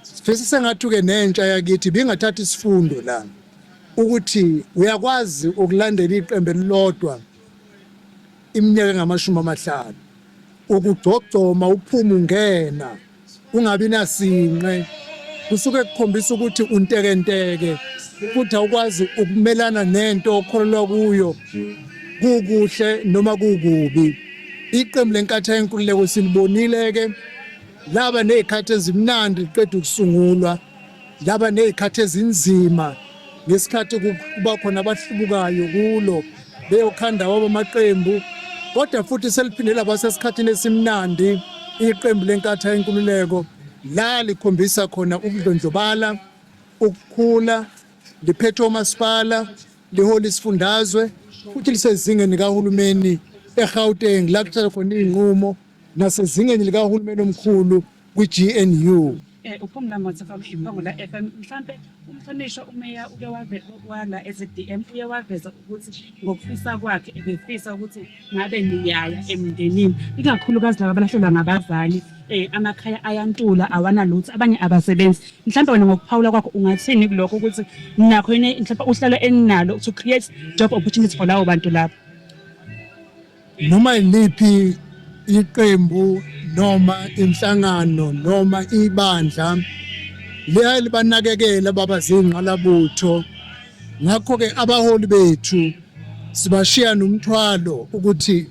Sifisa sengathuke nentsha yakithi bingathatha isifundo la ukuthi uyakwazi ukulandela iqembu elilodwa iminyaka engamashumi amahlanu ukugcogcoma uphuma ungena ungabi nasinqe kusuke kukhombisa ukuthi untekenteke futhi awukwazi ukumelana nento okholelwa kuyo kukuhle noma kukubi iqembu lenkathi yenkululeko silibonile ke laba nezikhathi ezimnandi liqeda ukusungulwa laba nezikhathi ezinzima ngesikhathi kuba khona abahlubukayo kulo beyokhanda wabo amaqembu kodwa futhi seliphinde laba sesikhathini esimnandi iqembu lenkatha yenkululeko la likhombisa khona ukudlondlobala ukukhula liphethe omasipala lihola isifundazwe futhi lisezingeni likahulumeni eGauteng la kuthatha khona iy'nqumo nasezingeni likahulumeni omkhulu kwi-GNU. Eh, uphumla motho from iphongula f m mhlampe umhlonishwa umeya uke wala ezi-dm uye waveza ukuthi ngokufisa kwakhe ebefisa ukuthi ngabe niyaya emndenini ikakhulukazi laba abalahlelwa ngabazali um amakhaya ayantula awanalutho abanye abasebenzi mhlawumbe wena ngokuphawula kwakho ungathini kulokho ukuthi nakho yini mhlawumbe uhlelo eninalo to create job opportunity for lawo bantu labo Noma iliphi iqembu noma inhlangano noma ibandla liyaye libanakekela baba zingqalabutho ngakho-ke abaholi bethu sibashiya nomthwalo ukuthi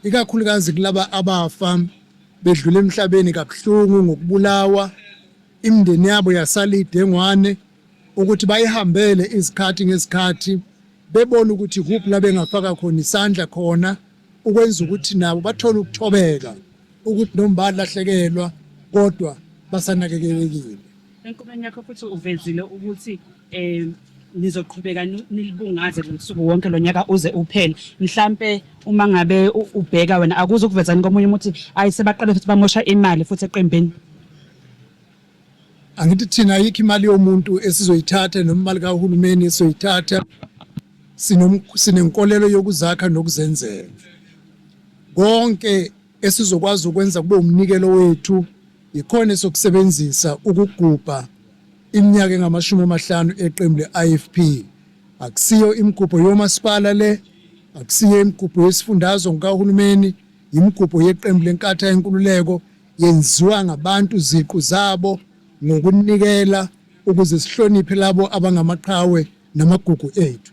ikakhulukazi kulaba abafa bedlula emhlabeni kabuhlungu ngokubulawa imindeni yabo yasalidengwane ukuthi bayihambele izikhathi ngezikhathi bebona ukuthi kuphi la bengafaka khona isandla khona ukwenza ukuthi nabo bathole ukuthobeka ukuthi noma balahlekelwa kodwa basanakekelekile. Enkubeni yakho futhi uvezile ukuthi um nizoqhubeka nilibungaze losuku wonke lo nyaka uze uphele mhlampe uma ngabe ubheka wena akuze ukuvezani komunye umuthi ayi sebaqale futhi bamosha imali futhi eqembini Angithi thina ayikho imali yomuntu esizoyithatha noma imali kahulumeni esizoyithatha sinenkolelo yokuzakha nokuzenzela konke esizokwazi ukwenza kube umnikelo wethu yikhona esokusebenzisa ukugubha iminyaka engamashumi amahlanu eqembu le-IFP akusiyo imigubho yomasipala le akusiyo imigubho yesifundazwe ngikahulumeni yimigubho yeqembu lenkatha yenkululeko yenziwa ngabantu ziqu zabo ngokunikela ukuze sihloniphe labo abangamaqhawe namagugu ethu.